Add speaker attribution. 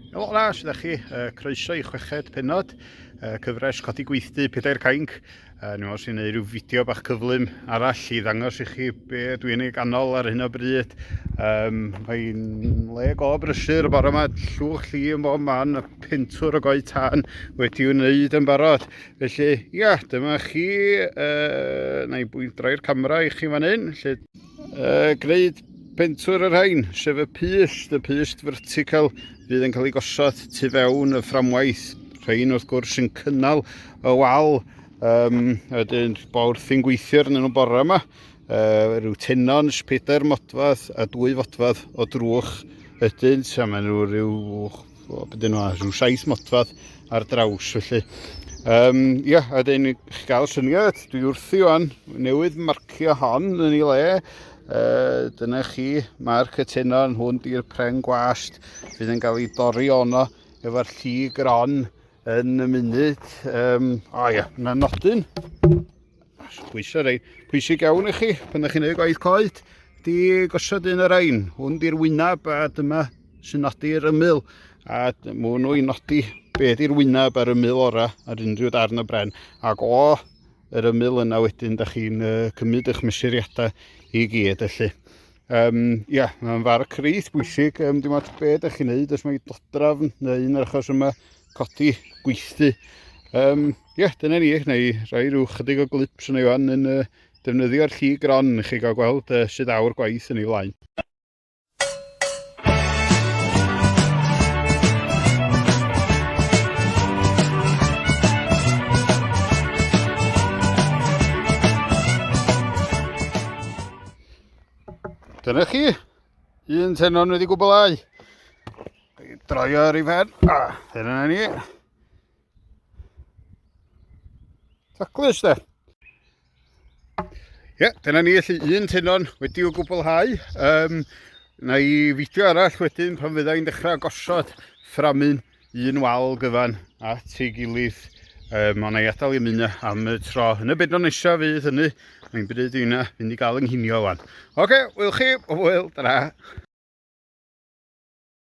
Speaker 1: Helo na, sydd â chi, uh, croeso i chweched penod, uh, cyfres codi gweithdy pedair cainc. Uh, Nid os i'n gwneud rhyw fideo bach cyflym arall i ddangos i chi be dwi'n ei ganol ar hyn o bryd. Um, Mae'n le go brysur y bore yma, llwch lli yn bob man, a pentwr o goi tân wedi wneud yn barod. Felly, ia, dyma chi, uh, na i bwynt droi'r camera i chi fan hyn. Felly... Uh, gwneud pentwr yr rhain, sef y pyst, y pyst vertical fydd yn cael ei gosod tu fewn y fframwaith. Rhain wrth gwrs yn cynnal y wal, um, a dyn bo wrthi'n gweithio arnyn nhw bore yma uh, rhyw tenons, pedair modfad a dwy fodfad o drwch ydynt a maen nhw rhyw O, bydden nhw rhyw saith modfadd ar draws felly. Um, ia, a dyn ni gael syniad, dwi wrthi o'n newydd marcio hon yn ei le. Uh, dyna chi, mae'r cytuno yn hwn di'r pren gwast fydd yn cael ei dori ono efo'r lli gron yn y munud. Um, o ia, yna nodyn. Pwysau rei. Pwysig iawn i chi, pan ydych chi'n gwneud gwaith coed, di gosod un ar ein. Hwn di'r wyneb a dyma sy'n nodi'r ymyl. A mwyn nhw i nodi be di'r wyneb a'r ymyl ora ar unrhyw darn o bren. Ac o yr ymyl yna wedyn, da chi'n uh, cymryd eich mesuriadau i gyd, felly. Um, ia, mae'n far crith bwysig, um, dim ond beth ydych chi'n neud, os mae dodrafn neu un o'r achos yma, codi, gweithdy. Um, Ie, yeah, dyna ni, na i roi rhyw chydig o glips yn ei fan yn uh, defnyddio'r lli gron i chi gael gweld uh, sydd awr gwaith yn ei flaen. Dyna chi, un tenon wedi gwblhau. Droio ar ei fen. A, hyn yna ni. Taclus de. Ie, dyna ni allu un tenon wedi'w gwblhau. Um, na i fideo arall wedyn pan fydda i'n dechrau gosod fframyn un wal gyfan at ei gilydd. Um, ond na i adael i mynd am y tro. Yn y bedno nesaf fydd hynny. Mae'n bryd i hynna fynd i gael ynghinio wan. Oce, okay, wyl chi, o wyl, dyna.